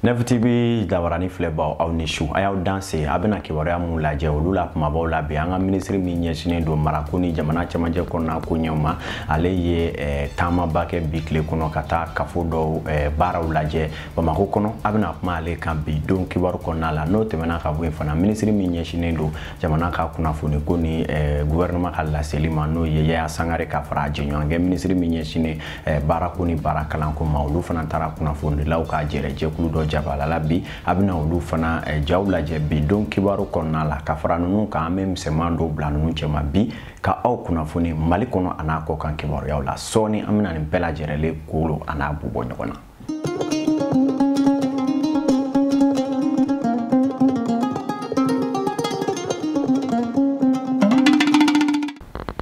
Neuf TV jabarani filɛbaw aw ni su a y'aw danse an bɛna kibaruya minnu lajɛ olu la kumabaw la bi an ka minisiri min ɲɛsinen don marako ni jamana cɛmancɛ kɔnɔna koɲɛw ma ale ye eh, taamaba kɛ bi tile kɔnɔ ka taa kafo dɔw eh, baaraw lajɛ bamakɔ kɔnɔ an bɛna kuma ale kan bi don kibaru kɔnɔna la n'o tɛmɛna ka bɔ yen fana minisiri min ɲɛsinnen don jamana ka kunnafoni ko ni eh, guvɛrɛnɛma ka laseli ma n'o ye yaya sangare ka fara a jɛɲɔgɔnkɛ minisiri min ɲɛsinnen eh, baarako ni baara kalanko ma olu fana taara kunnafonidilaw ka jɛrɛ jɛkulu dɔ jabalala bi an bɛna olu fana eh, jaw lajɛ bi don kibaru kɔnɔna la ka fara ninnu kan an bɛ misɛnman dɔw bila ninnu cɛma bi ka aw kunnafoni mali kɔnɔ an'a kɔ kan kibaruyaw la sɔɔni an bɛna nin bɛɛ lajɛrɛlen kolo an'a bu bɔ ɲɔgɔn na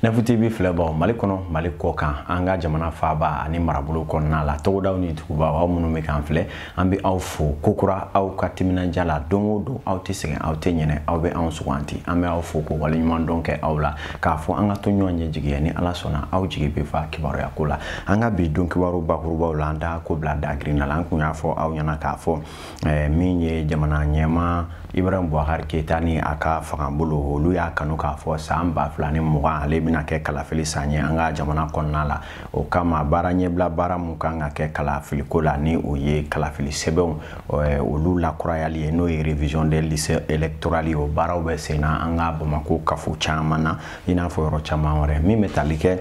Neuf TV filɛbaaw Mali kɔnɔ Mali kɔ kan an ka jamana faaba ani marabolo kɔnɔna la togodaw ni dugubaw aw minnu bɛ k'an filɛ an bɛ aw fo kokura aw ka timinandiya la don o don aw tɛ sɛgɛn aw tɛ ɲinɛ aw bɛ anw sugandi an bɛ aw fo ka waleɲumandɔn kɛ aw la k'a fɔ an ka to ɲɔgɔn ɲɛ jigiya ni ala sɔnna aw jigi bɛ fa kibaruya ko la an ka bi don kibaru bakurubaw la an da ko bila dagirinna la an kun y'a fɔ aw ɲɛna k'a fɔ eh, min ye jamana ɲɛmaa ibrahim bubakari keyita ni a ka fangabolo olu y'a kanu k'a fɔ san ba fila ni mugan ale bɛna kɛ kalafili san ye an ka jamana kɔnɔna la o kama baara ɲɛbila baara min kan ka kɛ kalafiliko la ni o ye kalafili sɛbɛnw eh, olu lakurayali ye n'o ye révision des listes électorales ye o baaraw bɛ sen na an ka bamako kafo caman na i n'a fɔ yɔrɔ caman wɛrɛ min bɛ tali kɛ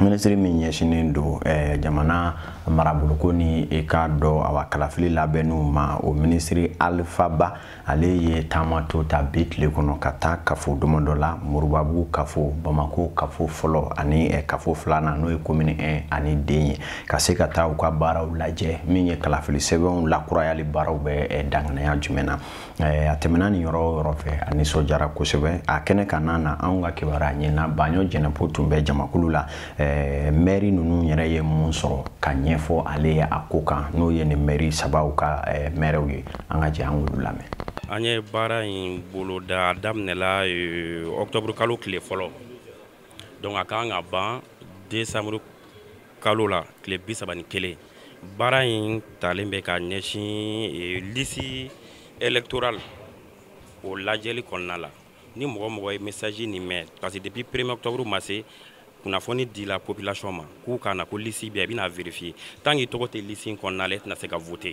minisiri min ɲɛsinnen don eh, jamana maraboloko ni i k'a dɔn awa kalafili labɛnniw ma o minisiri alifa ba ale ye taama dɔ ta bi tile kɔnɔ ka taa kafo damadɔ la moribabugu kafo bamako kafo fɔlɔ ani eh, kafo filanan n'o ye komini 1 ani 2 ye ka se ka taa u ka baaraw lajɛ min ye kalafili sɛbɛnw lakurayali baaraw bɛ eh, danganaya jumɛn na eh, a tɛmɛna nin yɔrɔ o yɔrɔ fɛ a nisɔndiyara kosɛbɛ a kɛnɛ kanna na anw ka kibaruya ɲinina baɲɔ jɛnɛpo tun bɛ jamakulu la ɛɛ mɛri ninnu yɛrɛ ye mun sɔrɔ ka ɲɛfɔ ale ye a ko kan n'o ye nin mɛri sabaw ka ɛɛ mɛrɛw ye an ka jɛ an k'olu lamɛn an ye baara in boloda a daminɛla eh, octobre kalo tile fɔlɔ donc a kan ka ban décembre kalo la tile bi saba ni kelen baara in talen bɛ ka ɲɛsin eh, liste électorale o lajɛli kɔnɔna la ni mɔgɔ o mɔgɔ ye message nin mɛn parce que depuis premier octobre ma se kunnafoni dila population ma k'u ka na ko lisi bɛ a bɛna vérifier tant que tɔgɔ tɛ lisi in kɔnɔna la e tɛna se ka voter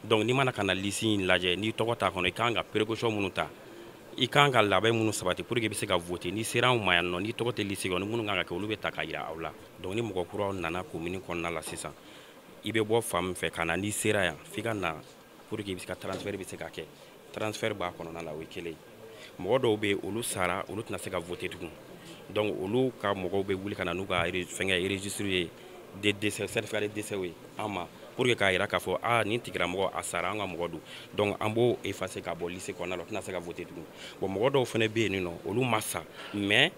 donc n'i ma na ka na lisi in lajɛ n'i tɔgɔ t'a kɔnɔ i kan ka précaution minnu ta i kan ka labɛn minnu sabati pour que i bɛ se ka voter n'i sera anw ma yan nɔ n'i tɔgɔ tɛ lisi kɔnɔ minnu kan ka kɛ olu bɛ ta ka yira aw la donc ni mɔgɔ kuraw nana commune kɔnɔna la sisan i bɛ bɔ fan min fɛ ka na n'i sera yan f'i ka na pour que i bɛ se ka transfert bɛ se ka kɛ transfert b'a kɔnɔna la o ye kelen ye mɔgɔ dɔw bɛ yen olu sara olu tɛna se ka voter tugun donc olu ka mɔgɔw bɛ wuli ka na n'u ka fɛngɛ registre ye de décès certificat de décès ye an ma pour que k'a yira k'a fɔ aa nin tigilamɔgɔ a sara an ka mɔgɔ don donc an b'o effacer ka bɔ liste kɔnɔna la o tɛna se ka voter tugun bon mɔgɔ dɔw fana bɛ yen nɔ olu ma sa mais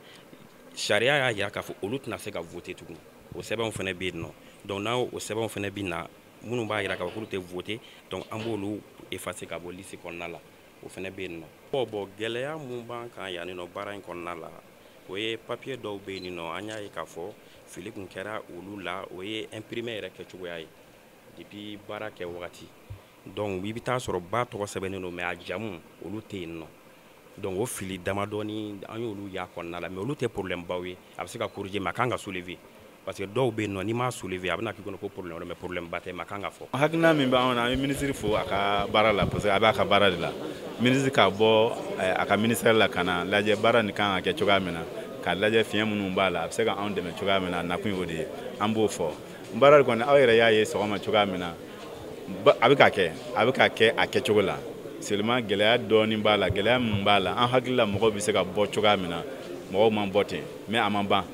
sariya y'a yira k'a fɔ olu tɛna se ka voter tugun o sɛbɛnw fana bɛ yen nɔ donc n'aw o sɛbɛnw fana bɛ na minnu b'a yira k'a fɔ k'olu tɛ voter donc an b'olu effacer ka bɔ liste kɔnɔna la o fana bɛ yen nɔ. bon bon gɛlɛya mun b'an kan yan nɔ baara in kɔnɔna la o ye papier dɔw bɛ yen nɔ an y'a ye k'a fɔ fili kun kɛra olu la o ye imprimer yɛrɛ kɛcogoya ye depuis baara kɛ wagati donc i bɛ taa sɔrɔ ba tɔgɔ sɛbɛnnen don mais a jamu olu tɛ yen nɔ donc o fili damadɔni an y'olu y'a kɔnɔna la mais olu tɛ problème baw ye a bɛ se ka corriger mais a kan ka soulever. parce que dɔw bɛ yen nɔ n'i m'a soulever a bɛna k'i kɔnɔ ko problème mais problème ba tɛ mais a kan ka fɔ. hakilina min b'anw na an ye ministre fo a ka baara la parce que a b'a ka baara de la ministre ka bɔ eh, a ka ministère la ka na lajɛ baara nin kan ka kɛ cogoya min na k'a lajɛ fiɲɛ minnu b'a la a bɛ se ka anw dɛmɛ cogoya min na a nakun y'o de ye an b'o fɔ baara kɔni aw yɛrɛ y'a ye sɔgɔma cogoya min na a bɛ ka kɛ a bɛ ka kɛ a kɛcogo la seulement gɛlɛya dɔɔnin b'a la gɛlɛya min b'a la an hakili la mɔgɔw bɛ se ka bɔ cogoya min na mɔgɔw ma bɔ ten mais a ma ban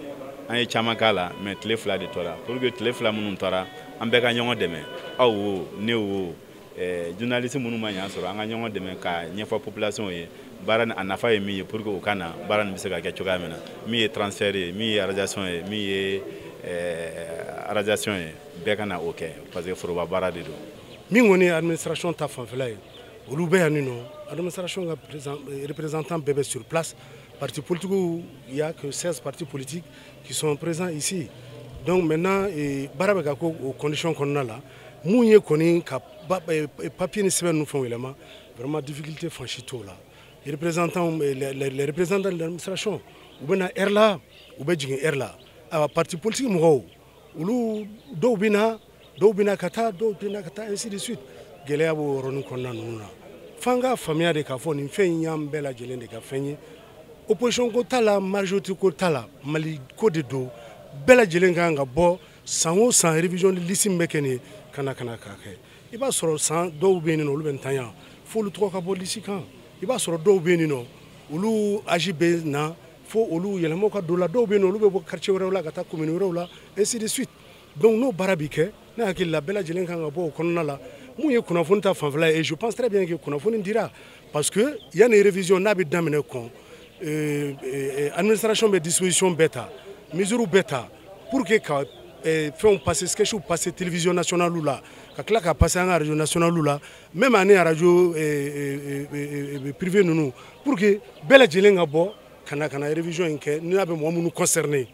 an ye caman k'a la mais tile fila de tora pour que tile fila minnu tora an bɛɛ ka ɲɔgɔn dɛmɛ aw wo ne wo eh, journaliste minnu ma yan sɔrɔ an ka ɲɔgɔn dɛmɛ k'a ɲɛfɔ population ye baara a nafa ye min ye pour que u ka na baara nin bɛ se ka kɛ cogoya min na min ye transfert ye min ye radiation ye min ye eh, radiation ye bɛɛ ka na o kɛ parce que foroba baara de don min kɔni ye administration ta fanfɛla ye olu bɛ yan nin nɔ administration ka représentant bɛɛ bɛ sur place Parti politique, il y a que 16 partis politiques qui sont présents ici. Donc maintenant, baara bɛ ka kɛ o condition kɔnɔna la, mun ye kɔni ka eh, eh, papier ni sɛbɛn ninnu fɛnw yɛlɛma, vraiment difficulté fan si t'o la. Les représentants, eh, les, les, les représentants de l'administration, u bɛ na heure la, u bɛ jigin heure la. Ayiwa parti politique mɔgɔw, olu dɔw bɛ na dɔw bɛna ka taa dɔw tɛna ka taa ainsi de suite gɛlɛya b'o yɔrɔnin kɔnɔna ninnu na f'an k'a faamuya de k'a fɔ nin fɛn in y'an bɛɛ lajɛlen de ka fɛn ye opposition ko t'a la majorité ko t'a la mali ko de don bɛɛ lajɛlen ka kan ka bɔ san o san révision de liste min bɛ kɛ nin ye ka na ka na k'a kɛ i b'a sɔrɔ sisan dɔw bɛ yen n'olu bɛ ntanya f'olu tɔgɔ ka bɔ liste kan i b'a sɔrɔ dɔw bɛ yen n'olu âge bɛ na fo olu yɛlɛmaw ka don o la dɔw bɛ yen n'olu bɛ bɔ quartier wɛrɛw la ka taa commune wɛrɛw la ainsi de suite donc n'o baara bi kɛ ne hakili la bɛɛ lajɛlen ka kan ka bɔ o kɔnɔna la min ye kunnafoni ta fanfɛla ye je pense très bien que kunnafoni dira parce que yanni révision n'a bɛ daminɛ kɔn euh, euh, administration bɛ disposition bɛɛ ta mesure bɛɛ ta pour que ka euh, fɛnw passer sketchw passer télévision nationale la ka tila ka passer an ka radio nationale la même ani radio privé ninnu pour que bɛɛ lajɛlen ka bɔ ka na ka na révision in kɛ n'a bɛ mɔgɔ minnu concerner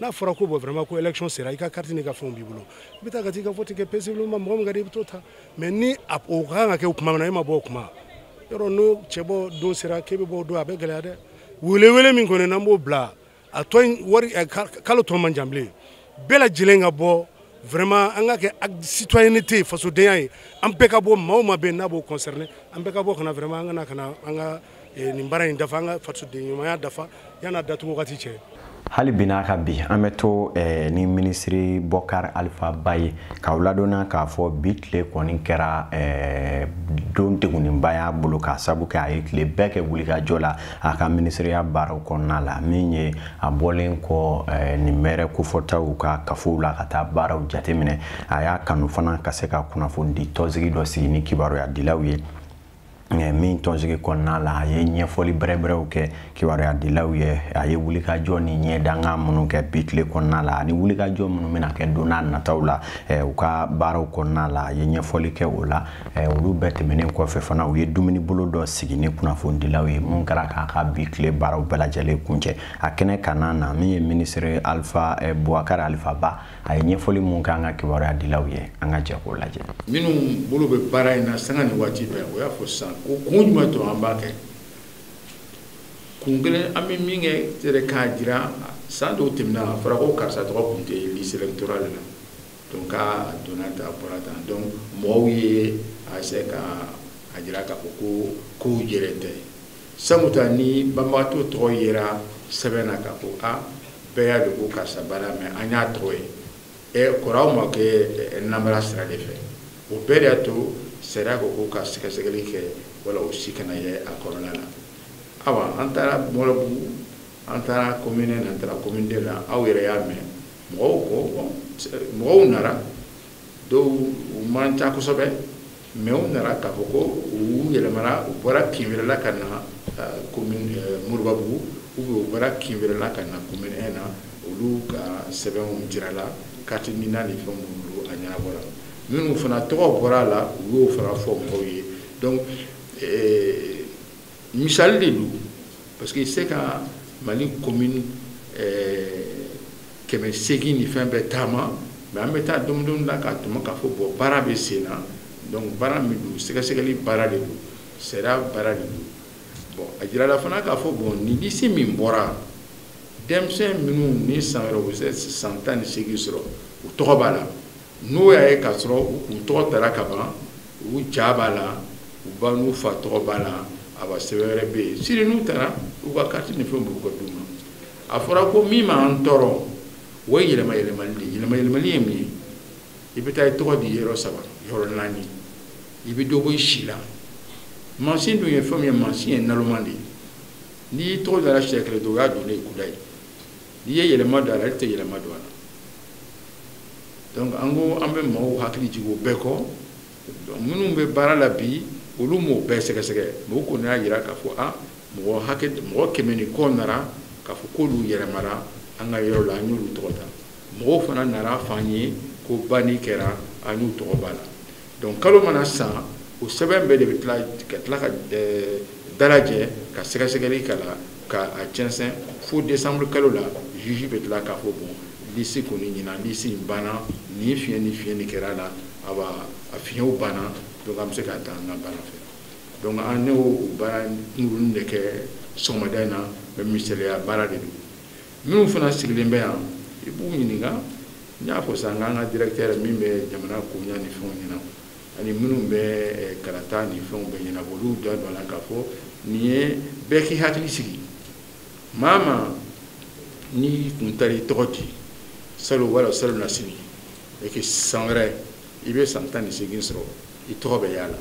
n'a fɔra ko bɔ vraiment ko élection sera i ka carte n'i ka fɛnw b'i bolo i bɛ taa ka t'i ka vote kɛ paisiblement mɔgɔ min ka di i bɛ t'o ta mais ni a o ka kan ka kɛ o kuma min na e ma bɔ o kuma yɔrɔ n'o cɛbɔ don sera k'e bɛ bɔ o don a bɛ gɛlɛya dɛ welewele min kɔni n'an b'o bila a tɔ in bari kalo tɔ man jan bilen bɛɛ lajɛlen ka bɔ vraiment an ka kɛ citoyenneté fasodenya ye an bɛɛ ka bɔ maa o maa bɛ yen n'a b'o concerner an bɛɛ ka bɔ ka na vraiment an ka na ka na an ka eh, nin baara in dafa an ka fasoden ɲumanya dafa yan'a datugu wagati cɛ hali bi n'a ka bi an bɛ to eh, ni minisiri bɔkar alifa ba ye k'aw ladɔnniya k'a fɔ bi tile kɔni kɛra eh, don degunninba y'a bolo k'a sabu kɛ a ye tile bɛɛ kɛ wulikajɔ la a ka minisiriya baaraw kɔnɔna la min ye a bɔlen kɔ eh, nin mɛrɛ kofɔtaw ka kafow la ka taa baaraw jateminɛ a y'a kanu fana ka se ka kunnafoni di tɔnsigi dɔ sigi ni kibaruya dilaw ye Eh, min tɔnsigi kɔnɔna la a ye ɲɛfɔli bɛrɛbɛrɛw kɛ kibaruya dilaw ye a ye wulikajɔ ni ɲɛdanga minnu kɛ bi tile kɔnɔna la ani wulikajɔ minnu bɛna kɛ don n'a nataw la eh, u ka baaraw kɔnɔna la a ye ɲɛfɔli kɛ o la eh, olu bɛɛ tɛmɛnen kɔfɛ fana u ye dumuni bolo dɔ sigi ni kunnafonidilaw ye mun kɛra k'a ka bi tile baaraw bɛɛ lajɛlen kuncɛ a kɛnɛ kanna na min ye minisiri alifa bɔkar alifa ba a ye ɲɛfɔli mun k'an ka kibaruya dilaw ye an ka jɛ k'o lajɛ minnu bolo bɛ baara in na sanga ni waati bɛɛ o y'a fɔ sisan ko kun jumɛn to an b'a kɛ kun kelen an bɛ min kɛ k'a jira san dɔw tɛmɛna a fɔra ko karisa tɔgɔ kun tɛ liste électorale la donc a donna tan a bɔra tan donc mɔgɔw ye a se ka a jira k'a fɔ ko kow jɛlen tɛ samuta ni banbagatɔ tɔgɔ yera sɛbɛn na ka ko a bɛɛ y'a de ko karisa banna mɛ an y'a tɔgɔ ye ɛ kori o ma kɛ namara sira de fɛ o bɛɛ de y'a to sariya ko ko ka sɛgɛsɛgɛli kɛ wala o si kana ye a kɔnɔna na awa an taara mɔribabugu an taara commune un na an taara commune deux la aw yɛrɛ y'a mɛn mɔgɔw ko mɔgɔw nara dɔw u man ca kosɛbɛ mɛ u nana k'a fɔ ko u yɛlɛmana u bɔra kin wɛrɛ la ka na commune moribabugu u bɛ u bɔra kin wɛrɛ la ka na commune in na olu ka sɛbɛnw jirala kati nina ni fɛn minnu a ɲɛnabɔla minnu fana tɔgɔ bɔra a la u y'o fana fɔ mɔgɔw ye misali de don parce que i se ka mali commune eh, kɛmɛ seegin ni fɛn bɛɛ taama mais an bɛ taa domudon la k'a tuma k'a fɔ bɔn baara bɛ sen na donc baara min don sɛgɛsɛgɛli baara de don sariya baara de don bɔn a jirala fana k'a fɔ bɔn nin liste min bɔra denmisɛn minnu ni san wɛrɛ u bɛ se san tan ni seegin sɔrɔ u tɔgɔ b'a la n'u y'a ye k'a sɔrɔ u tɔgɔ dara ka ban u ja b'a la u ba n'u fa tɔgɔ b'a la a ba sɛbɛn wɛrɛ bɛ yen sini n'u taara u ka kati ni fɛn bɔ ka d'u ma a fɔra ko min m'an tɔɔrɔ o ye yɛlɛma yɛlɛmali de yɛlɛma yɛlɛmali ye min ye i bɛ taa i tɔgɔ di yɔrɔ saba yɔrɔ naani i bɛ dɔ bɔ i si la mansin dun ye fɛn min ye mansin ye naloman de ye n'i tɔgɔ dara siɲɛ kelen dɔrɔn o y'a donnen ye kudayi n'i ye yɛlɛma don a la ale tɛ yɛlɛma don a la donc an ko an bɛ mɔgɔw hakili jigin o bɛɛ kɔ minnu bɛ baara la bi olu m'o bɛɛ sɛgɛsɛgɛ mɛ u kɔni y'a jira k'a fɔ a mɔgɔ kɛmɛ ni kɔ nara k'a fɔ k'olu yɛlɛmara an ka yɔrɔ la an y'olu tɔgɔ da mɔgɔw fana nara f'an ye ko banni kɛra an y'u tɔgɔ b'a la dɔnku kalo mana sa o sɛbɛn bɛɛ de bɛ ka tila k'a dalajɛ ka sɛgɛsɛgɛli k'a la k'a cɛnsɛn fo desanburu kalo la juge bɛ tila k'a fɔ bon liste kɔni ɲɛna liste in banna ni fiɲɛ ni fiɲɛ ni kɛra a la a a fiɲɛw banna dɔnku an bɛ se ka taa an ka baara fɛ dɔnku an y'o baara kunkurunnin de kɛ sɔgɔmada in na mɛ misaliya baara de don minnu fana sigilen bɛ yan i b'u ɲininka n y'a fɔ sisan k'an ka directeur min bɛ jamana koɲa ni fɛnw ɲɛna ani minnu bɛ eh, kalata ni fɛnw bɛɛ ɲɛnabɔ olu da don a la k'a fɔ nin ye bɛɛ k'i hakili sigi maa o maa n'i kun taara i tɔgɔ di salon wala salonnasini et que san wɛrɛ i bɛ san tan ni seegin sɔrɔ i tɔgɔ bɛ y'a la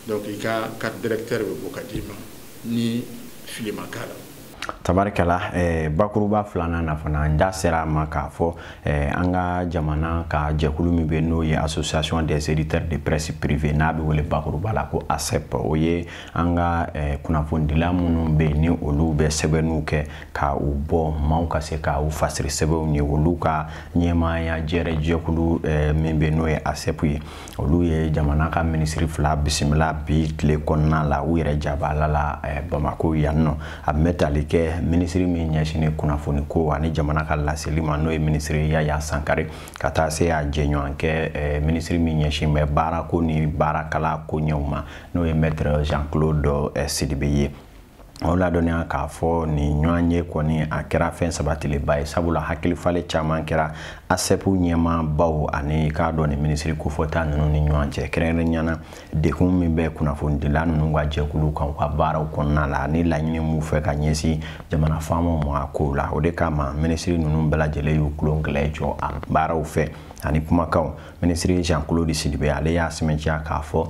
donc i ka carte d'électeur bɛ bɔ ka d'i ma ni fili ma k'a la tabarikala eh, bakuruba filanan na fana n da sera a ma k'a fɔ eh, an ka jamana ka jɛkulu min bɛ n'o ye association des éditeurs de presse privée n'a bɛ wele bakuruba la ko asep o ye an ka eh, kunnafonidila minnu bɛ yen ni olu bɛ sɛbɛnniw kɛ ka u bɔ maaw ka se ka u fasiri sɛbɛnw ye olu ka ɲɛmaaya jɛrɛ jɛkulu eh, min bɛ n'o ye asep ye olu ye jamana ka minisiri fila bisimila bi tile kɔnɔna la u yɛrɛ jabala la eh, bamako yan nɔ a bɛ tali kɛ minisiri min ɲɛsinnen kunnafoni ko ani jamana ka laseli ma n'o ye minisiri yaya sangare ka taa se a jɛɲɔgɔn kɛ eh, minisiri min ɲɛsin bɛ baarako ni baarakalan koɲɛw ma n'o ye mɛtre jean claude eh, sidibe ye aw ladɔnniya k'a fɔ nin ɲɔgɔnye kɔni a kɛra fɛn sabatilenba ye sabula hakili falen caman kɛra asɛpu ɲɛmaabaw ani k'a dɔn nin minisiri kofɔta ninnu ni ɲɔgɔn cɛ kɛrɛnkɛrɛnnenya na degun min bɛ kunnafonidila ninnu ka jɛkulu kan u ka baaraw kɔnɔna la ani laɲini m'u fɛ ka ɲɛsin jamana faamaw ma a kow la o de kama minisiri ninnu bɛɛ lajɛlen y'u tulo kelen jɔ a baaraw fɛ ani kumakanw minisiri jean claude sidibe ale y'a sɛmɛntiya k'a fɔ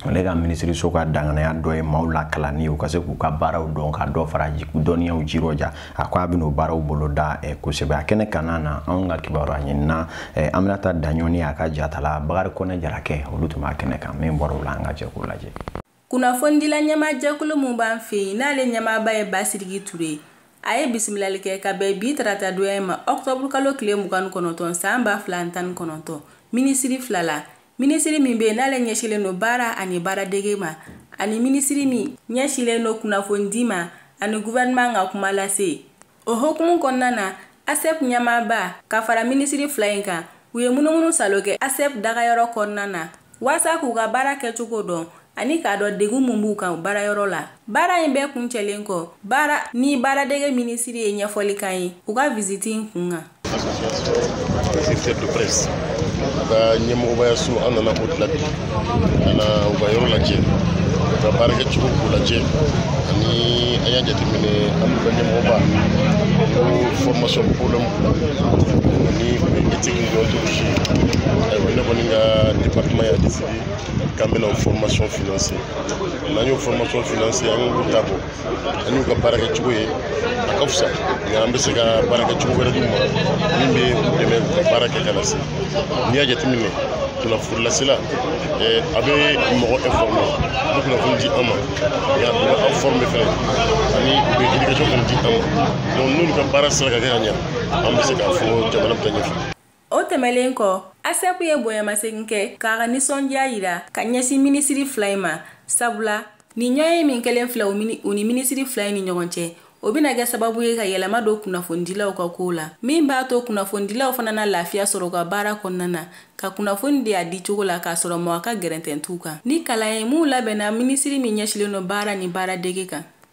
ale ka minisiriso ka danganaya dɔ ye maaw lakalanni ye u ka se k'u ka baaraw dɔn ka dɔ fara dɔnniyaw jirɔja a ko a bɛn'o baaraw boloda eh, kosɛbɛ a kɛnɛ kanna na anw ka kibaruyaɲinina eh, aminata daɲɔ ni a ka jatala bakari kɔnɛ jarakɛ olu tun b'a kɛnɛ kan min bɔra o la an ka jɛ k'o lajɛ kunnafonidila ɲɛmaajɛkulu min b'an fɛ yen n'ale ɲɛmaaba ye basidiki ture a ye bisimilali kɛ ka bɛn bi tarata donya ma ɔkutɔburukalo tile mugan ni kɔnɔntɔn san ba fila ani tan ni kɔnɔntɔn minisiri fila la minisiri min bɛ yen n'ale ɲɛsilen don baara ani baaradege ma ani minisiri min ɲɛsilen don kunnafonidi ma ani guvɛrɛnman ka kuma lase o hokumu kɔnɔna na asep ɲɛmaaba ka fara minisiri fila in kan u ye munumunusaalo kɛ asep dagayɔrɔ kɔnɔna na waasa k'u ka baara kɛcogo dɔn ani k'a dɔn degun min b'u kan baarayɔrɔ la baara in bɛɛ kuncɛlen kɔ baara ni baaradege minisiri ye ɲɛfɔli k'an ye u ka visiti in kun kan secteur de presse ka ɲɛmɔgɔbayaso an nana o de la bi ka na u ka yɔrɔ lajɛ u ka baarakɛ cogo k'u lajɛ ani an y'a jateminɛ an n'u ka ɲɛmɔgɔba ko formation problème ani éthique ni déontologie ayiwa ne kɔni ka département y'a décidé k'an bɛna o formation financer n'an y'o formation financer an k'u ta bon an y'u ka baara kɛ cogo ye a ka fisa nka an bɛ se ka baara kɛ cogo wɛrɛ d'u ma min bɛ u dɛmɛ u ka baara kɛ ka na se n'i y'a jateminɛ kunnafonilasela a bɛ mɔgɔ informer a bɛ kunnafoni di an ma nka u bɛ an former fɛnɛ ani u bɛ éducation fɛnɛ di an ma donc n'olu ka baara sera ka kɛ ka ɲa an bɛ se k'a fɔ jamana bɛ taa ɲɛfɛ o tɛmɛlen kɔ asɛpu ye bonyamasegin kɛ k'a ka nisɔndiya yira ka ɲɛsin minisiri fila in ma sabula nin ɲɔgɔnye min kɛlen filɛ u ni minisiri fila in ni ɲɔgɔn cɛ o bɛna kɛ sababu ye ka yɛlɛma don kunnafonidilaw ka kow la min b'a to kunnafonidilaw fana na lafiya sɔrɔ u ka baara kɔnɔna na ka kunnafoni di a di cogo la k'a sɔrɔ mɔgɔ ka gɛrɛntɛ t'u kan ni kalan ye minw labɛnna minisiri min ɲɛsilen don baara ni baaradege kan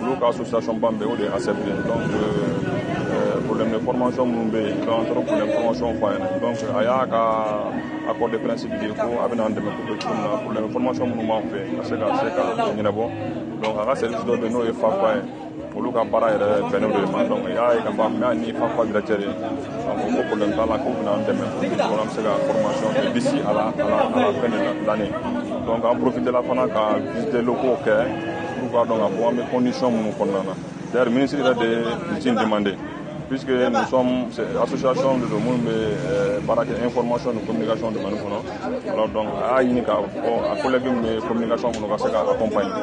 olu ka association ban bɛ o de ye ASEP donc euh, problème de formation minnu bɛ yen donc an taara problème formation fɔ a ɲɛna donc a y'a ka accord de principe di ko a bɛna an dɛmɛ ko cogo min na problème formation minnu b'an fɛ ka se ka se ka ɲɛnabɔ donc a ka service dɔ bɛ yen n'o ye FAFA ye olu ka baara yɛrɛ bɛnnen don ma donc y'a ye ka fɔ mɛ ni fafa directeur ye donc ko problème t'a la k'u bɛna an dɛmɛ pour an bɛ se ka formation kɛ d'ici à la à la à la fin de l'année donc an profitera fana ka visiter locaux kɛ pour k'a dɔn ka fɔ an bɛ condition minnu kɔnɔna na d'ailleurs ministre yɛrɛ de ye nin ci in demander puisque nous sommes association de don minnu bɛ euh, baara kɛ information ni communication domaine kɔnɔ alors donc a y'a ɲini k'a fɔ a collègue min bɛ communication kɔnɔ ka se k'a accompagner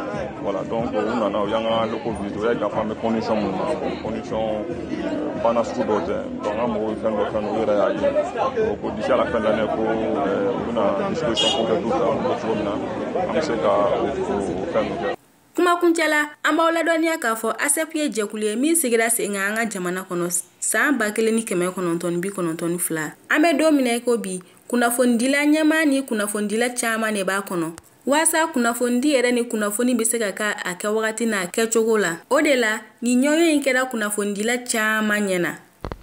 voilà donc u nana u y'an ka locaux visiter u y'a ye k'a fɔ an bɛ condition minnu na bon condition euh, banna sugu dɔw tɛ an ka mɔgɔw ye fɛn dɔ fɛn u yɛrɛ y'a ye ko d'ici à la fin de l'année ko u bɛna disposition ko kɛ du fɛ an bɛ cogo min na an bɛ se ka o fɛn kɛ kuma kuncɛ la an b'aw ladɔnniya k'a fɔ asep ye jɛkulu ye min sigira sen kan an ka jamana kɔnɔ san ba kelen ni kɛmɛ kɔnɔntɔn bi kɔnɔntɔn ni fila an bɛ don min na i ko bi kunnafonidila ɲɛmaa ni kunnafonidila caaman ne b'a kɔnɔ Waasa kunnafonidi yɛrɛ ni kunnafoni bɛ se ka kɛ a kɛ wagati n'a kɛcogo la o de la nin ɲɔgɔnye in kɛra kunnafonidila caman ɲɛna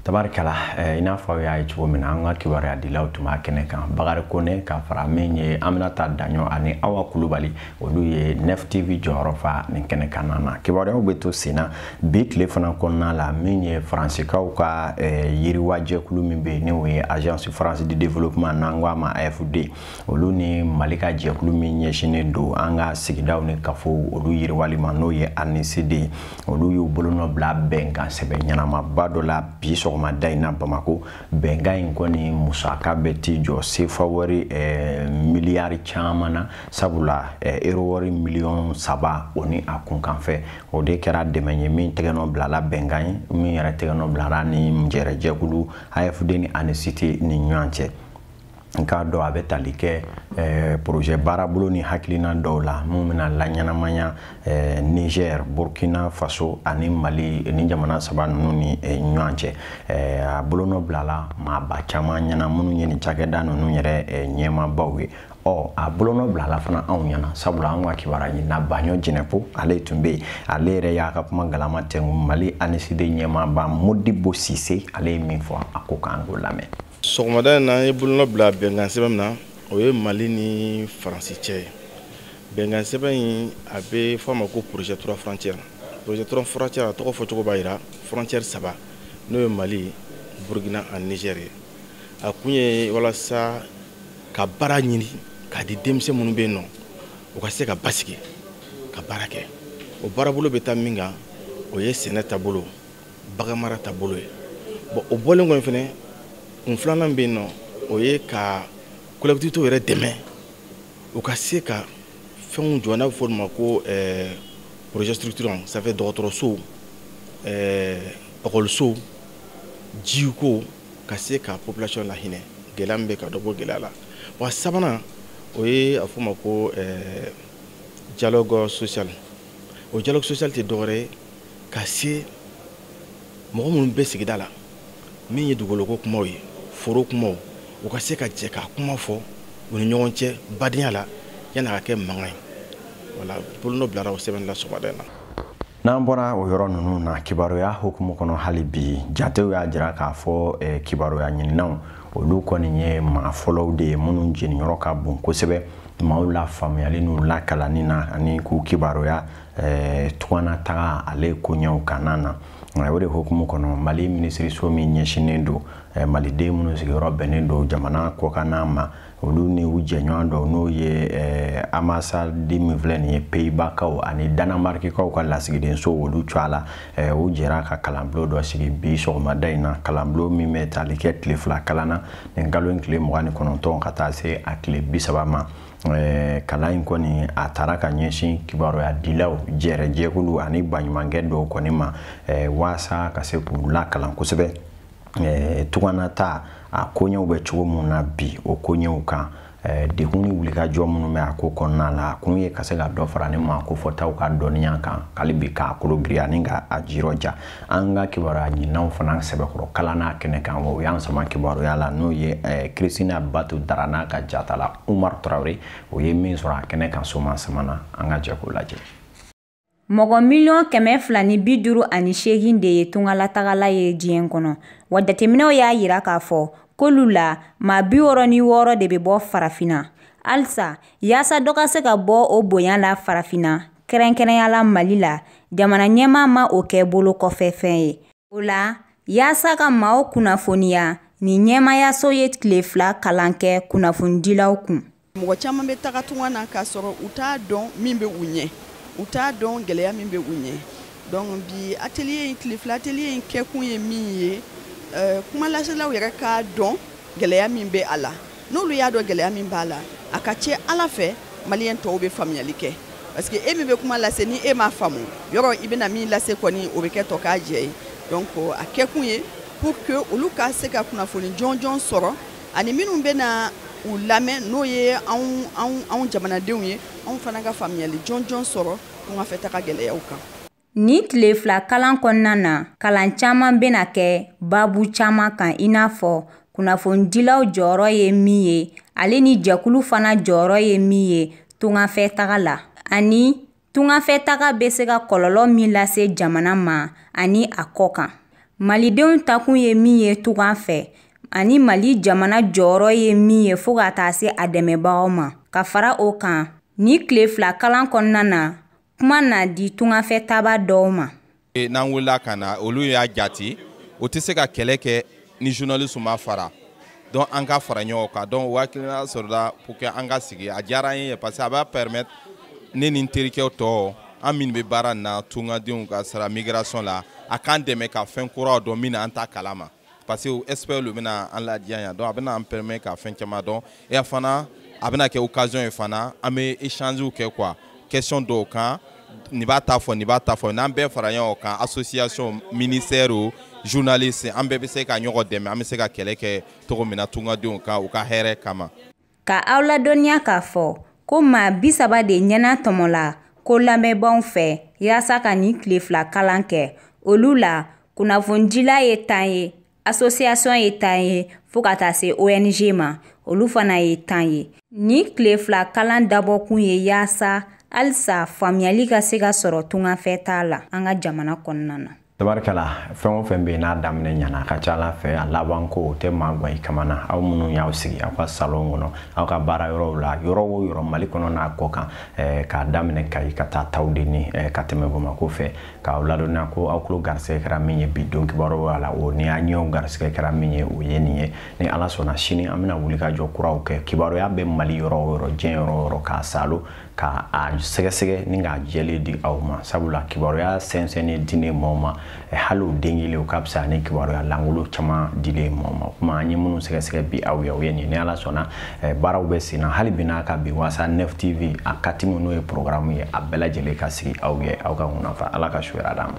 tabarikala eh, i n'a fɔ aw y'a ye cogo min na an ka kibaruya dilaw tun b'a kɛnɛ kan bakari kone ka fara min ye aminata daɲɔ ani awa kulubali olu ye nef tv jɔyɔrɔ fa nin kɛnɛ kan na na kibaruyaw bɛ to sen na bi tile fana kɔnɔna la min ye faransikaw ka eh, yiriwa jɛkulu min bɛ yen n'o ye agence française de développement n'an ko a ma afd olu ni mali ka jɛkulu min ɲɛsinnen don an ka sigidaw ni kafow olu yiriwali ma n'o ye anict ye olu y'u bolonɔ bila bɛnkan sɛbɛn ɲɛnamaba dɔ la bi sɔgɔmada in na bamako bɛnkan in kɔni musaka bɛ t'i jɔ sefa wari eh, miliyari caman na sabula eh, ero wari miliyɔn saba o ni a kunkanfɛ o de kɛra dɛmɛ ye min tɛgɛnɔ bilala bɛnkan ye min yɛrɛ tɛgɛnɔ bilara ni jɛrɛjɛkulu afd ni anict ni ɲɔgɔn cɛ n k'a dɔn a bɛ tali kɛ eh, projet baarabolo ni hakilina dɔw la minnu bɛna laɲɛnamaya eh, niger burkina faso ani mali ni jamana saba ninnu ni eh, ɲɔgɔn cɛ a bolonɔ bilala maaba caman ɲɛna minnu ye nin cakɛda ninnu yɛrɛ ɲɛmaabaw ye ɔ a bolonɔ bilala fana anw ɲɛna sabula anw ka kibaruya ɲinina baɲɔ jɛnɛpo ale tun bɛ yen ale yɛrɛ y'a ka kuma galama tɛngu mali anict ɲɛmaaba modibo sise ale ye min fɔ a ko k'an k'o lamɛn sɔgɔmada in na an ye bolonɔ bila bɛnkan sɛbɛn min na o ye mali ni faransi cɛ ye bɛnkan sɛbɛn in a bɛ fɔ a ma ko projet trois frontières projet trois frontières a tɔgɔ fɔcogo b'a jira frontière saba n'o ye mali burkina ani niger ye a kun ye walasa ka baara ɲini k'a di denmisɛn minnu bɛ yen nɔ u ka se ka basigi ka baara kɛ o baarabolo bɛ taa min kan o ye sɛnɛ taabolo baganmara taabolo ye bon o bɔlen kɔni fɛnɛ kun filanan bɛ yen nɔ o ye ka collectivitéw yɛrɛ dɛmɛ u ka se ka fɛnw jɔ n'a bɛ fɔ olu ma ko eh, projet structurant ça fait dɔgɔtɔrɔsow ekɔlisow eh, jiko ka se ka population lahinɛ gɛlɛya min bɛ ka dɔ bɔ gɛlɛya la wa sabanan o ye a fɔ ma ko eh, dialogue social o dialogue social tɛ dɔwɛrɛ ye ka se mɔgɔ minnu bɛ sigida la min ye dugukoloko kumaw ye foro kumaw u ka se ka jɛ ka kuma fɔ u ni ɲɔgɔn cɛ badenya la yanni a ka kɛ mankan ye voilà bolonɔ bilara o sɛbɛnni la sɔgɔmada in na n'an bɔra o yɔrɔ ninnu na kibaruya hukumu kɔnɔ hali bi jatew y'a jira k'a fɔ eh, kibaruya ɲininaw olu kɔni ye maa fɔlɔw de ye minnu jeniyɔrɔ ka bon kosɛbɛ maaw lafaamuyali n'u lakalanni na ani k'u kibaruya eh, tunganataga ale koɲɛw kanna na nka o de hukumu kɔnɔ mali minisiriso min ɲɛsinnen don eh, maliden minnu sigiyɔrɔ bɛnnen don jamana kɔkanna ma olu ni u jɛɲɔgɔn dɔw n'o ye eh, ambassade min filɛ nin ye peyibakaw ani danamarikikaw ka lasigidenso olu cɔ a la eh, u jɛra ka kalanbulon dɔ sigi bi sɔgɔmada in na kalanbulon min bɛ tali kɛ tile fila kalan na nin kalo in tile mugan ni kɔnɔntɔn ka taa se a tile bi saba ma Eh, kalan in kɔni a taara ka ɲɛsin kibaruya dilaw jɛrɛjɛkulu ani baɲumankɛ tɔnw kɔni ma eh, waasa ka se k'u lakalan kosɛbɛ eh, tunganata a koɲɛw bɛ cogo min na bi o koɲɛw kan degun ni wulikajɔ minnu bɛ a ko kɔnɔna la a kun ye ka se ka dɔ fara nin maa kofɔtaw ka dɔnniya kan hali bi k'a kologirinya ani ka a jirɔja an ka kibaruya ɲininaw fana sɛbɛkɔrɔ kalanna a kɛnɛ kan o y'an sama kibaruyala n'o ye kristina eh, batu dara n'a ka jatala umar tarawele o ye min sɔrɔ a kɛnɛ kan soman sama na an ka jɛ k'o lajɛ mɔgɔ miliyɔn kɛmɛ fila ni bi duuru ani seegin de ye tungalatagala ye diɲɛ kɔnɔ wa jateminɛw y'a yira k'a fɔ k'olu la maa bi wɔɔrɔ ni wɔɔrɔ de bɛ bɔ farafinna halisa yaasa dɔ ka se ka bɔ o bonya la farafinna kɛrɛnkɛrɛnyala Mali la, jamana ɲɛmaa ma o kɛ bolo kɔfɛ fɛn ye. O la, yaasa ka maaw kunnafoniya, nin ɲɛmaayaso ye tile fila kalan kɛ kunnafonidilaw kun. Mɔgɔ caman bɛ taga tunga na k'a sɔrɔ u t'a dɔn min bɛ u ɲɛ, u t'a dɔn gɛlɛya min bɛ u ɲɛ. Donc bi atelier in tile fila atelier in kɛkun ye min ye, euh, kumalaselaw yɛrɛ k'a dɔn gɛlɛya min bɛ a la. n'olu y'a dɔn gɛlɛya min b'a la a ka ca ala fɛ maliyɛn tɔw bɛ faamuyali kɛ parce que e min bɛ kuma lase ni e m'a faamu yɔrɔ i bɛna min lase kɔni o bɛ kɛ tɔkajɛ ye donc a kɛkun ye pour que olu ka se ka kunnafoni jɔnjɔn sɔrɔ ani minnu bɛna u lamɛn n'o ye anw anw anw jamanadenw ye anw fana ka faamuyali jɔnjɔn sɔrɔ tungafɛtaga gɛlɛyaw kan Nin tile fila kalan kɔnɔna na kalan caman bɛna kɛ baabu caman kan i n'a fɔ kunnafonidilaw jɔyɔrɔ ye min ye ale ni jɛkulu fana jɔyɔrɔ ye min ye tungafɛ taga la ani tungafɛ taga bɛ se ka kɔlɔlɔ min lase jamana ma ani a kɔ kan malidenw taakun ye min ye tunga fɛ ani mali jamana jɔyɔrɔ ye min ye fo ka taa se a dɛmɛbagaw ma ka fara o kan nin tile fila kalan kɔnɔna na kuma na di tungafɛ taabaa dɔw ma e, n'an wulila ka na olu y'a jati o tɛ se ka kɛlɛ kɛ ni journaliste ma fara donc an ka fara ɲɔgɔn kan donc o hakilina sɔrɔla pour que an ka sigi a diyara an ye parce que a b'a permettre ne ni n terikɛ tɔw an minnu bɛ baara nin na tungadenw ka sira migration la a k'an dɛmɛ ka fɛn kuraw dɔn min na an t'a kalama parce que expert lu bɛna an ladiya yan donc a bɛna an permet ka fɛn caman dɔn et a fana a bɛna kɛ occasion ye fana an bɛ échangew kɛ quoi question dɔw kan nin b'a ta fɔ nin b'a ta fɔ n'an bɛɛ fara ɲɔgɔn kan association ministère o journaliste an bɛɛ bɛ se ka ɲɔgɔn dɛmɛ an bɛ se ka kɛlɛ kɛ cogo min na tungadenw kan u ka hɛrɛ kama Ka aw ladɔnniya k'a fɔ ko maa bi saba de ɲɛnatɔmɔla ko labɛnbaw fɛ yaasa ka nin tile fila kalan kɛ olu la kunnafonidila ye tan ye asosiyasɔn ye tan ye fo ka taa se ONG ma olu fana ye tan ye nin tile fila kalan dabɔkun ye yaasa halisa faamuyali ka se ka sɔrɔ tungafɛtaa la an ka jamana kɔnɔna na tabarikala fɛn o fɛn bɛ yen n'a daminɛ ɲana a ka ca ala fɛ a laban ko o tɛ maa gan i kamana aw minnu y'aw sigi aw ka salon kɔnɔ aw ka baara yɔrɔw la yɔrɔ o yɔrɔ mali kɔnɔ n'a kɔ kan eh, k'a daminɛ kayi ka taa tawudeni eh, ka tɛmɛ bamako fɛ k'aw ladɔnniya ko aw tulo garisɛgɛ kɛra min ye bi don kibaruya la o ni aw ɲɛw garisɛgɛ kɛra min ye o ye nin ye ni ala sɔnna sini an bɛna wuli ka jɔ kuraw kɛ kibaruya bɛ mali yɔrɔ o yɔrɔ diɲɛ yɔrɔ o yɔrɔ k'a salo ka a sɛgɛsɛgɛ ni k'a jɛlen di aw ma sabula kibaruya sɛnsɛnnen dilen maaw ma hali o den kelen o ka fisa ni kibaruya langolo caman dilen maaw ma kuma an ye minnu sɛgɛsɛgɛ bi aw ye o ye nin ni ala sɔnna baaraw bɛ sen na hali bi n'a ka bi wasa neuf tv a katimu n'o ye programme ye a bɛɛ lajɛlen ka sigi aw ye aw ka ŋunafa ala ka su hɛrɛ d'an ma